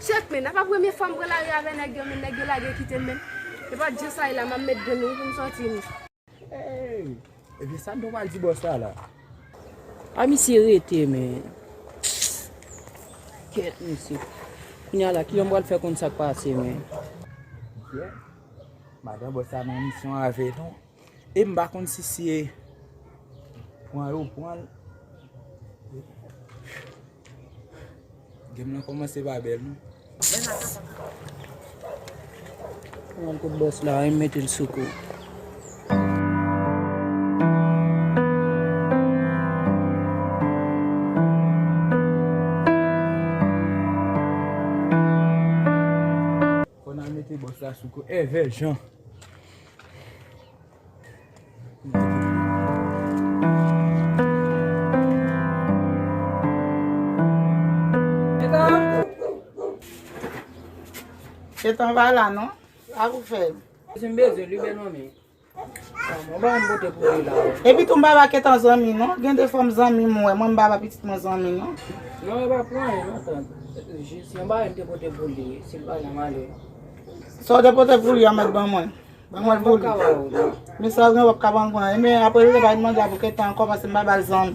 Chef men, apa premye fwa m pran lari avè nèg yo men, nèg yo lage kite m men. E pa djosayla m ap met grenn nan pou m sòti m. Ebyen sa nou pral di bòs la la. A misye rete men. Kèt misye. Kounya la kijan m pral fè konn sak pase men. Ebyen. Madan bòs la nan misyon avè nou. E m pa konn si se pran yo pran. Game nan komanse pa bel non. Mwen kout bòs la a, e m mete l sou kou. Konal mete bòs la sou kou. Evè jan. Etan va la non. Sa pou fè. Sim bezwen li bel manmi. Mwen ba yon bote pou li la. E pi tou m baba ke tan zanmi non. Gen de fòm zanmi m wè. Mwen m baba pitit mwen zanmi non. Non e pa pou an yon tan. Jis yon ba yon te bote pou li. Sil pa nan male. Sa w te bote pou li an met ban mwen. Mwen mwen vou li. Men sa gen wap ka ban gwen. Men apre li bay manda pou ketan anko pase mba bal zan.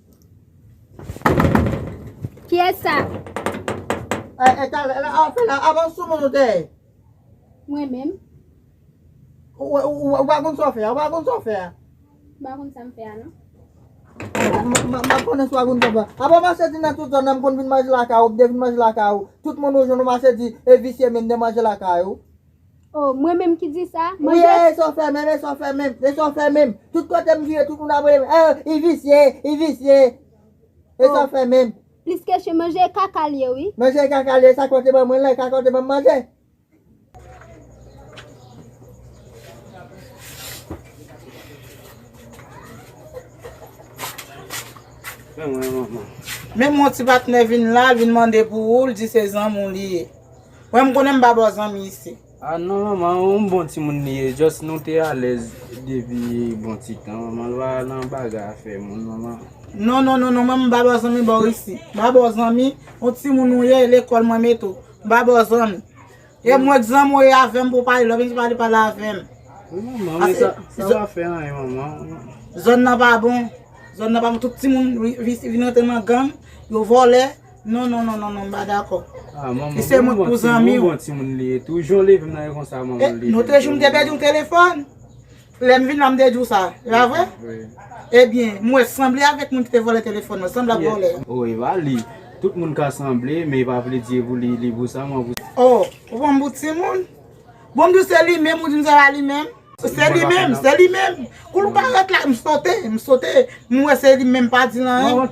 Kiyès sa? Eh eh tal la a fè la avan sou moun ou te ye. Mwen menm. Ou pa konn sa w fè a, ou pa konn sa w fè a. M pa konn sa m fè a non. M ap konnen sa w ap vin fè pou a. Apa mache di nan tout zòn nan m konn vin manje lakay ou, m te vin manje lakay ou, tout moun ou jwenn ou mache di e visye men m te manje lakay ou. Oh mwen menm ki di sa? Mwen jwe. Wouyy leson fèmen leson fèmen leson fèmen tout kotem vire tout moun ap relem oh I visye I visye leson fèmen. Plis kesyon manje kaka l ye wi. Manje kaka l ye sa kòl te ban mwen la e kaka w te banm manje. Menm yon ti patnè vin la l vin mande pou ou l di se zanmi w li ye. Wè m konnen m pa ba w zanmi isit. Ah non manman yon bon timoun li ye just nou te alèz depi bon ti tan manman l pa nan bagay afè moun manman. Non non non non mwen m pa ba w zanmi ba w isit m pa ba w zanmi yon timoun ou ye e lekòl mwen mete w m pa ba w zanmi e mwen k zanmi w ye avè m pou w pale lè w vin di pale pale avè m. Wi manman men sa pa fè anyen manman. Zòn nan pa bon zòn nan pa bon tout timoun vin rantre nan gang yo vòlè. Non non non non non m pa dakò. Ah manman Li se moun pou zanmi ou. Bon timoun li ye tou. Jan w leve m nan e konsa manman leve m tou. Lotrejou m te pèdi yon telefòn. Lè m vin la m te di w sa. E pa vre? Wi. Ebyen, m wè sanble avèk moun ki te vòlè telefòn nan. Sanble ap vòlè. Oh e pa li. Tout moun ka sanble men e pa vle di e pou li li pou sa manman. Oh, ou pran m pou timoun? Bon m di w se li menm ou di m se pa li menm. Se li menm, se li menm. Kou l parèt la, m sote, m sote. M wè se li menm m pa di l anyen.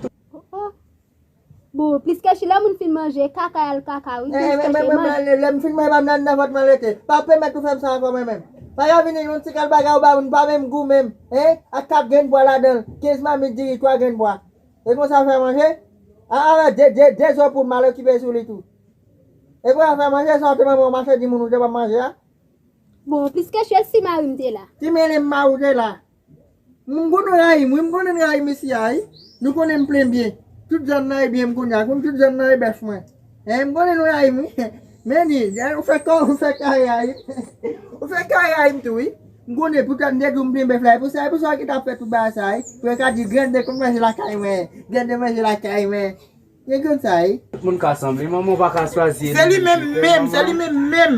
Bon pliske chi lè moun fin manje kaka yal kaka wi pliske chi manje. Mwen manje lèm fin manje pam nan nan vant mwen rete pa pèmèt ou fèm sa ankò mwen menm paka vini yon ti kal bagay ou bam nou pa menm gou menm hein ak 4 grenn pwa ladanl 15 mamit diri 3 grenn pwa e konsa ou fè manje a avè 2 2 2 zo poul mal okipe sou li tou e konsa ou fè manje sa ou te manman ou machè di moun ou te banm manje a. Bon pliske chi e si marim te la. Ti mele m marou te la. M konn rayim wi m konn rayi mesye a wi nou konnen m plen byen tout zòn nan ebyen m kounye a konn tout zòn nan e bèf mwen hein m konnen nou rayim wi Mendy ou fè kò ou fè kay rayim ou fè kay rayim tou wi m konnen pou tèt m te di w m plen bèf la e pou sa e pou sa w ki ta fèt pou bagay sa wi pou yo ka di grande konn manje lakay mwen grande manje lakay mwen. Egantay. Tout moun ka sanble manman ou paka chwazi Se li menm menm, se li menm menm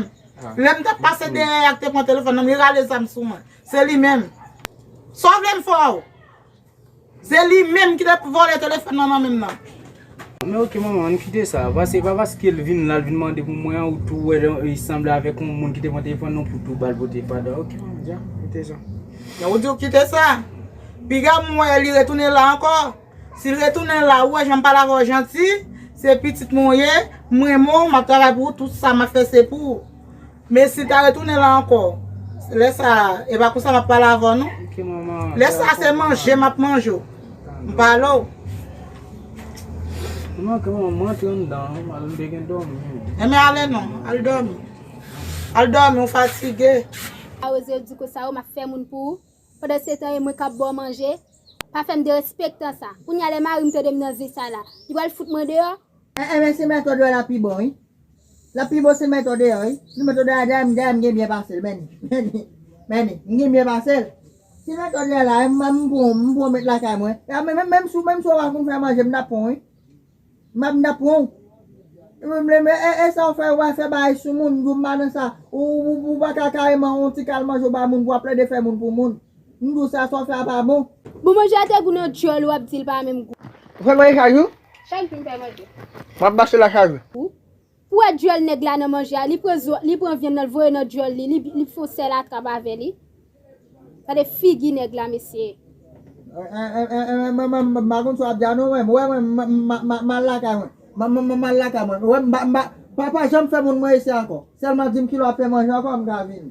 Lè m tap pase dèyè a k te pran telefòn nan m li rale zam sou mwen Se li menm Sa w vle m fè w? Se li menm ki te vòlè telefòn nan nan men m nan. Men ok manman an kite sa Paske se pa paske l vin la l vin mande pou mwen an ou tou wè li sanble avèk yon moun ki te pran telefòn nan pou tou ba l pote padan Ok manman ja kite sa Ou di w kite sa Piga m wè li retounen la ankò Sil retounen la ou wè janm pale avèw janti, se pitit mwen ou ye, m renmen w, map travay pou ou, tout sa map fè se pou ou. Men sil ta retounen la ankò, lè sa e pa konsa map pale avèw non. Lè sa se manje map manje w, m pale w. Enben ale non, al dòmi. Al dòmi ou fatige. Awoze yo di kosa ou map fè moun pou ou. Pandan se tan e mwen kap baw manje, pa fèm derespektan sa. Kounya lè marim tandem nan vi sa la, li pral fout mwen deyò? Eh eh men se met odè lap pi bon wi lap pi bon se met odè wi si met odè la dèyè m dèyè m gen byen pasel men ni men ni m gen byen pasel si met odè la m pran m pran met lakay mwen menm si ou pa konn fè manje m tap pran w wi. Map nan pranw. E sa ou fè wè fè bagay sou moun ndou mpa nan sa ou paka kareman on ti kal manje ou bay moun pou wap plede fè moun pou moun ndou sa sa ou fè a pa bon. Bon manje a te gou nan dyòl ou ap dil pa menm gou. Ou fè manje chak jou? Chak jou m fè manje. Wap mache la chak jou? Ou Pou wè duel nèg la nan manje a li pran zo li pran vyann nan l voye nan duel li li fon sèl atrap avè li gade figi nèg la mesye. M pa konn sa w ap di a non mwen wè mwen m al lakay mwen m al lakay mwen wè m pa janm fè moun mwen ese ankò sèlman di m kilè w ap fè manje ankò m ka vini.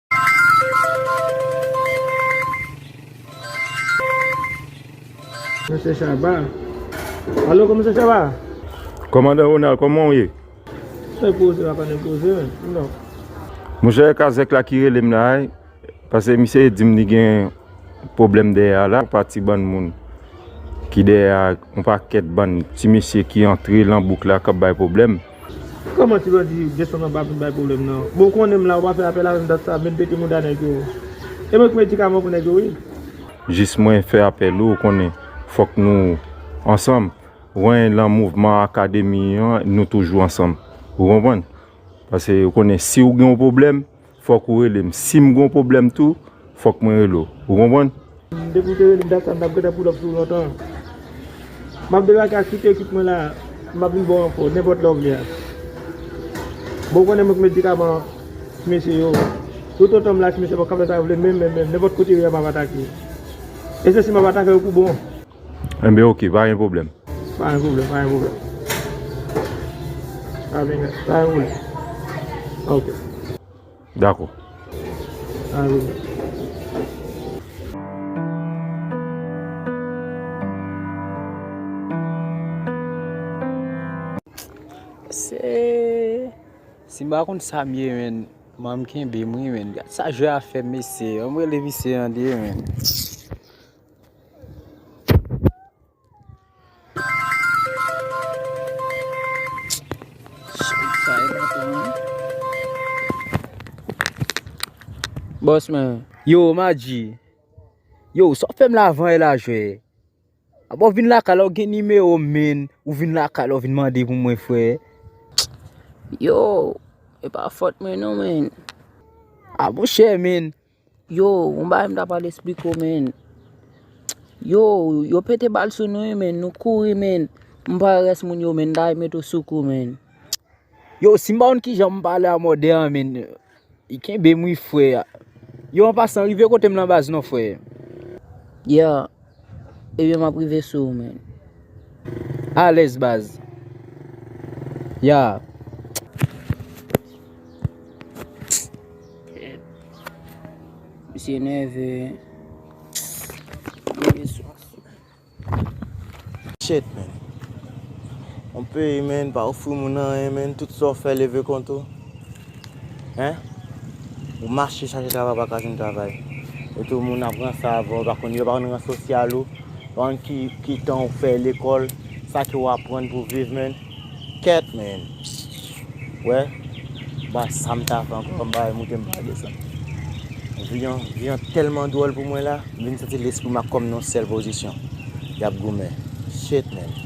Monsye Chaba Alo kon monsye Chaba Komandan Ronald kòman w ye? Mwen poze la pa nan poze non Monchè e kazèk la ki rele m la e Pase misye di m li gen pwoblèm dèyè a la Yon pati bann moun ki dèyè a Yon pakèt bann ti mesye ki antre lan bouk la k ap bay pwoblèm Kòman ti bandi Genson nan pa vin bay pwoblèm nan? Bon ou konnen m la ou pa fè apèl avè m dat sa menm pete mouda nèg yo e mwen ki medikaman pou nèg yo wi. Jis mwen fè apèl ou konnen fòk nou ansanm wen lan mouvman akademi an nou toujou ansanm ou konprann pase ou konnen si ou gen yon pwoblèm. fòk ou rele m si m gon pwoblèm tou fòk mwen rele w ou konprann. Depi w te rele m dat sa m tap gentan pull up sou w lontan Map debake ak tout ekip mwen la map vin ba w enfo nenpòt lè w vle a Bon ou konnen mwen k medikaman an ti mesye yo Tout otan m la ti mesye yo kap fè sa yo vle menm menm menm nenpòt kote yo ye map atake yo E se si map atake yo pou bon. Enben ok, pa gen pwoblèm. Pa gen pwoblèm, pa gen pwoblèm. Pa gen pwoblèm. Ok. Dakò. Pa gen pwoblèm. Si m pa konn sa m ye menn, manm kenbe m wi menn. Gad sa jwè a fè m mesye. Anmwey le visye an te ye menn. Boss man. Yo, Maji. Yo, sa w fè m lavan e la jwe. A bon vin lakay la ou gen nime ou men. Ou vin lakay la ou vin mande pou mwen fwe. Yo, e pa fot men ou men. A bon chè men. Yo yon bagay m ta pral esplike w menn Yo yo pete bal sou nou wi menn nou kouri menn M pa wè rès moun yo menn m ta met w sou kou menn Yo si m pa konn kijan m pale a mòde an menn Kenbe m wi frè Yo an pasan rive kote m lan baz non frè Yeah. Ebyen map rive sou ou menn. Alèz baz. Yeah. Misye nève. Misye sou. Shit menn. Yon peyi menn pa ofri moun anyen menn tout sa w fè leve kont ou. Hein ou mache chache travay ou paka jwenn travay etou moun ap ranse avèw yo pa konn yo pa konn ran sosyal ou pa konn ki ki tan ou fè lekòl sa ke ou aprann pou viv menn kèt menn wè ba sam ta fè ankò m bay moute m pa desann vi an vi an tèlman dwòl pou mwen la m vin santi lespri m ak kòm nan yon sèl pozisyon yap goumen shit menn.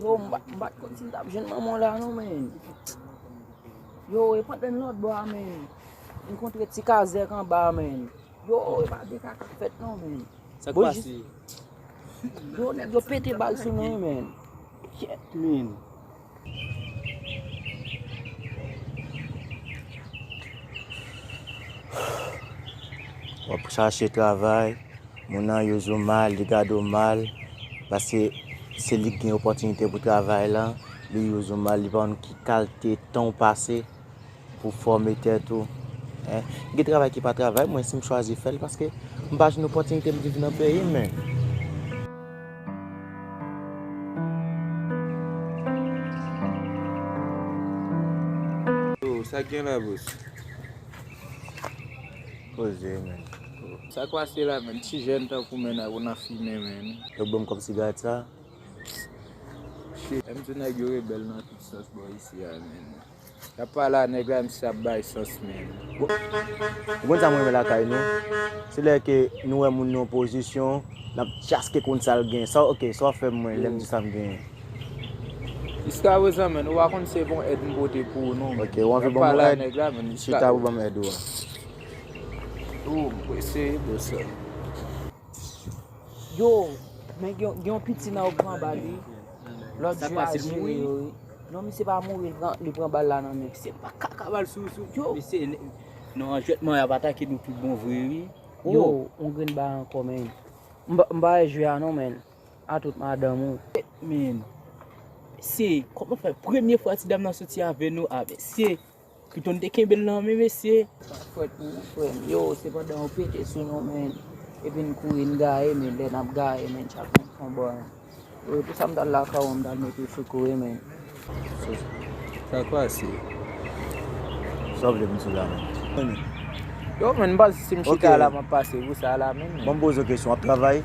Yo m pat konn si m tap jwenn manman w la non men Yo e pat menm lòt bò a men M kontre ti kazèk anba a men Yo e pa gen kaka k fèt non men Sak pase Yo nèg yo pete bal sou mwen men Kyèt men Wap chache travay, moun nan yo zo mal, li gade w mal, paske se li ki gen opòtinite pou travay lan, li yo zo mal, li pa konn ki kalte tan w pase. Pou fòme tèt ou. Gen travay ki pa travay mwen si m chwazi fè l paske m pa jwenn opòtinite m viv nan peyi m men. Sa gen la bouch. Poze men. Sa k pase la menn. Ti jèn tankou men nèg ou nan fimen menn. Yo k banm kòb sigarèt sa. Shit. M di nèg yo rebèl nan tout sans bò isi a menn. Yap pale a nèg la misye ap bay sans menm. Ou konn sam renmen lakay nou se lè ke nou wè moun nan pozisyon nap chaske konn sal gen sa ok sa wap fè mwen lèm di sam genyen. Jiskaprezan menn ou pa konn se bon èd m pote pou ou non menn yap pale a nèg la menn jiska Chita pou banm èd ou a. Ou m prese bon sèm. Yo, men gen yon piti nan yo pran bal wi. Lot jou a jere yo wi. Non misye pa mouri li pran bal la nan men. Se pa kaka bal sou yo. Misye nan yon jwetman yap atake nou tout bon vre wi. Yo yon grenn bal anko men. M pa wè jwe a non men. A tout madanm ou. Men. Se. Koman fè premye fwa ti dam nan soti ave nou a men. Se. Kriton te kenbel nan men mesye. Sak fwet pou ou frem. Yo se pandan yo pete sou nou men epi n kouri n gaye men lè nap gaye men chak moun pran bò l. Yo pou sa m tal lakay ou m tal mete w sou kou wi men. Sak pase? Sa w vle pou m sou la menm? Yo men m panse si m chita la map pase pou sa la menm. Bon m poze w kesyon wap travay?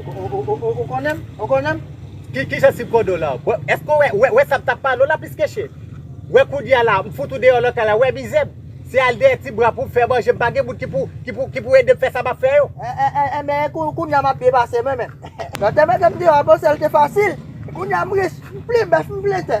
Ou konnen m? Ou konnen m? Ki ki jan sipwodo w la? Èske ou wè, wè, wè sa m t ap pale w la, Piskèche? Wè kounye a la, m fout ou deyò nan kay la, wè mizè m? Se al dèyè ti bra pou m fè manje, m pa gen moun ki pou, ki pou, ki pou ede m fè sa m ap fè yo. Enben, e kou, kounye a m ap byen pase mwen menm? Lòt te mete m deyò, m panse l te fasil. Kounye a m rich, m plen bèf, m plen tè.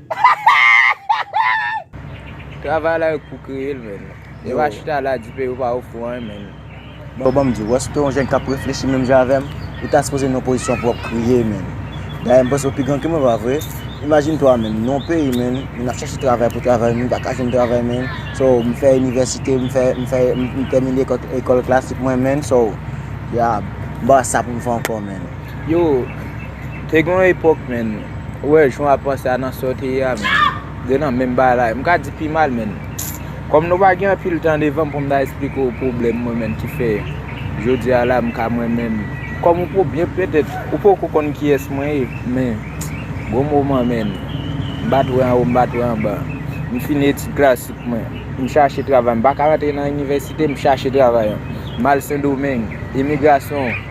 Travay la yo k pou kreye l menn. Yo va chita la di peyi w pa ofri w anyen menn. Bon banm diw, èske yon jèn kap reflechi menm jan avèm, ou ta sipoze nan yon pozisyon pou wap kriye menn. Dayè mpanse ou pi gran ke mwen pa vre. Imajine twa menn, nou yon peyi menn, moun ap chache travay pou travay moun paka jwenn travay menn, so mfè inivèsite, mfè mfè mtèmine ekòl klasik mwen menn, so ya mpa wè sa poum fè ankò menn. Yo. Te gen yon epok menn, ou wè jan w ap panse a nan sa w te ye a menn, de nan menm bagay, m ka di pi mal menn. Kòm nou pa gen anpil tan devan m pou m ta esplike w pwoblèm mwen menn ki fè jodi a la m ka mwen menm, kòm ou pou byen petèt ou poko konn kiyès mwen ye men gon moman menn m pa t wè anwo m pa t wè anba, m fini etid klasik mwen, m chache travay m pa ka rantre nan inivèsite m chache travay, m al Sendomeng, imigrasyon.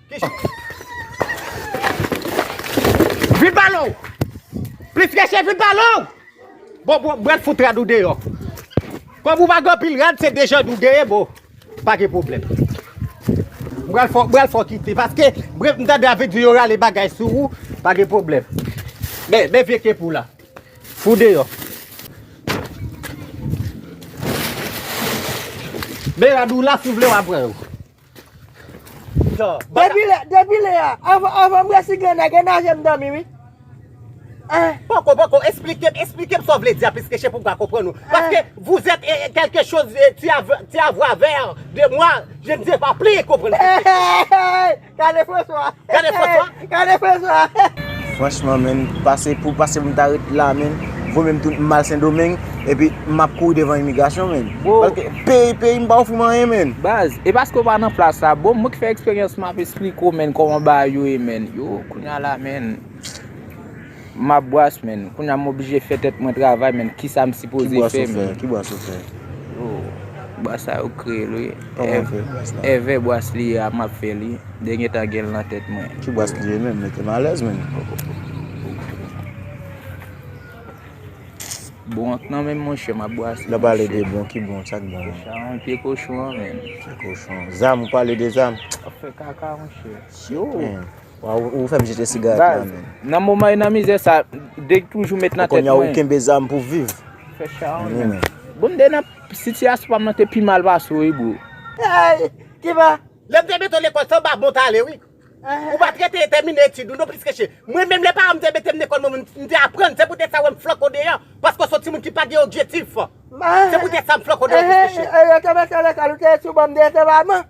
Vin pa lon. Plis kèche vin pa lon. Bon bon bwèt fout rad ou deyò. Kòm ou pa gen pil rad se dejan dou deye bon. Pa gen problem. Bwèl fò bwèl fò kite paske bref m tande avèk di yo rale bagay sou ou pa gen problem. Men men vye kep ou la. Fou deyò. Men rad ou la si vle wap pran yo. Depi lè a, avan m resi grennè, grennè je m dòmi wi. Poko, poko, esplike m, esplike m sa w vle di a pliske chè pou m ka konprann ou. Paske vouzèt e kelke choz ti avwa vè de mwa, je ne se pa pli konprann. Kale François. Gade François. Gade François. Franchman menn pase pou pase pou m ta ret la menn Vo menm tou m al sendomeng epi m ap kouri devan imigrasyon menn paske peyi peyi m pa ofri m anyen menn. Baz e paske ou pa nan plas la bro mwen ki fè eksperyans m ap esplike w menn kòman bagay yo ye menn yo kounya la menn. Map bwas menn, kounya m oblije fè tèt mwen travay menn kisa m sipoze fè menn. Ki bwas ou fè? Oh bwas sa yo kreyel wi. Koman ou fè bwas la? Èvè bwas li ye a map fè li, de gen tan genl nan tèt mwen. Ki bwas li ye menm? Mete m alèz menn. Bon ak nan menm monchè map bwas li monchè. Lè w pale de bon, ki bon? Sak bon? Chawony, pye kochon an menm. Pye kochon. Zam, ou pale de zam? Wap fè kaka monchè. Syooo. Waw ou fem jete sigaret la menn. Baz nan moman e nan mizè sa deg toujou met nan tet mwen. E konnya ou kenbe zam pou viv. Fè charonn menm. Bon m te nan sitiyasyon pa m nan te pi mal pase w wi bro. Eyy kiba. Lèm te mete w lekòl se yon ba bon tale wi. Ou pat rete tèmine etid ou non plis ke che. Mwen menm lè paran m te mete m lekòl mwen menm m te aprann se poutèt sa wè m flank ou deyò paske w son timoun ki pa gen objektif. Se poutèt sa m flank ou deyò plis ke che. Lè yo te mete w lekòl ou te sou bon m deyò se pa man.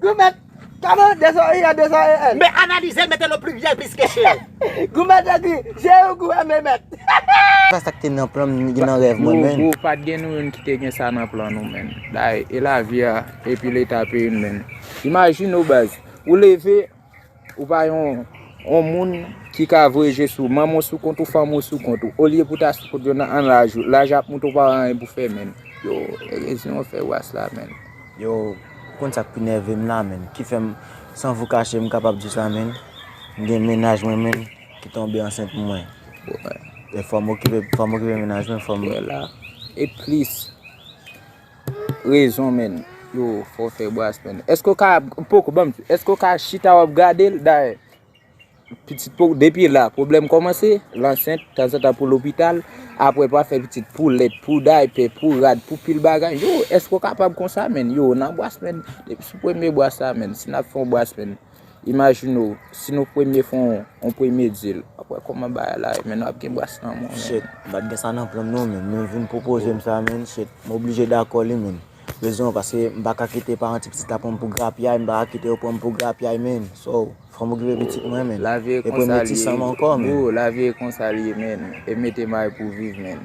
Goumet, kado dezoye ya dezoye el. Men analize l mete l o pliryèl plis ke chèl. Goumet te di, je yo gou eme mèt. Sa sak te nan planm gen nan rèv mwen menn. Gou gou pat gen nou youn ki te gen sa nan plan nou menn. Daye e lavi a epi leta peyi m menn. Imajine w baz, ou leve. Ou pa yon yon moun ki ka voye je sou manman w sou kont ou, fanmi w sou kont ou. Olye pou ta sou kont yo nan an laj ou. Laj ap moute ou pa wè anyen pou fè menn. Yo rezon an fè was la menn. Yo, ou konn sak pi nève m la menn, ki fè m san vou kache m kapab di sa menn, m gen mennaj mwen menn ki tonbe ansent pou mwen. Fò m okipe, fò m okipe mennaj mwen, fò m. E plis. Rezon menn yo fò fè bras menn. Eske ou ka poko banm ti. Eske ou ka chita wap gadel dayè. Pitit pou depi la problem komanse lansent tanzantan pou lopital apre pa fè pitit pou lèt pou daype pou rad pou pil bagay. Yo eske ou kapab konsa menn. Yo nan bras menn. Depi sou premye bras la menn. Si nap fon bras menn. Imajine w, si nou premye fè yon premye dil. Wap wè kòman bagay la ye menn, wap gen bras nan men w menn. Shit, m pat gen sa nan plan m non menn, men vin pwopoze m sa menn, shit, m oblije dakò li menn. Rezon an paske m pa ka kite paran ti pitit la pran m pou grapyay, m pa ka kite yo pran m pou grapyay menn. So, fò m okipe pitit mwen menn. E premye ti san m ankò menn. Lavi e konsa li ye menn. Bro, lavi e konsa li ye menn. E mete may pou viv menn.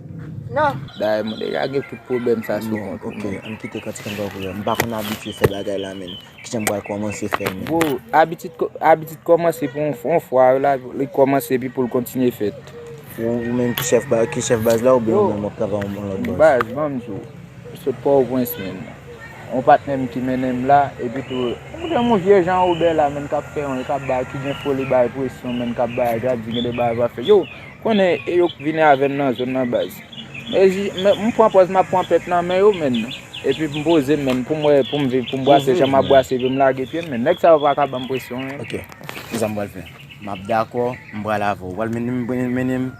nan. Bagay moun deja gen tout pwoblèm sa sou kont ou menm. Ann kite kantik an bò kote. M pa konn abitye fè bagay la menm. Kijan m pral kòmanse fè l menm. Bro, abitid kòmanse pou yon fwa li kòmanse epi pou l kontinye fèt. Ou menm ki chèf baz la oubyen ou menm w ap travay yon lòt baz? Baz, ban m di w. M sot Pòtoprens menm. Yon patnè m ki mennen m la epi tou gen yon vye jan Wobè la menm k ap fè yon, k ap bay, ki gen foli bay presyon menm k ap bay, k ap di gen de bagay w ap fè. Yow! Konnen e yo k vini avèn nan zòn nan baz. M pran pòz map pran pèt nan men yo menn. Epi m poze menn poum wè poum viv poum brase jan map brase epi m lage pyem menn. Nèg sa yo paka banm presyon menn. Ok kisa m pral fè. Map dakò m pral avèw. Ou pral mennenm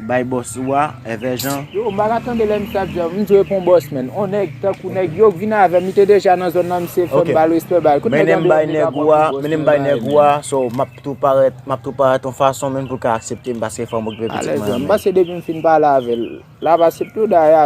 bay bòs ou a èvè jan. Yo m paka tande lè misye ap di a. M dwe pou bòs menn. On nèg tankou nèg yo k vini avèm li te deja nan zòn nan misye fèm bal respè bal. Kout nèg an deyò m deka pran pou bòs mwen. Mennen m bay nèg ou a. tou parèt map tou parèt yon fason menm pou ka akseptem paske fanm okipè pitit mwen an menm. Alèz lan m pase depim fin pale avèl lap asepte w dayè.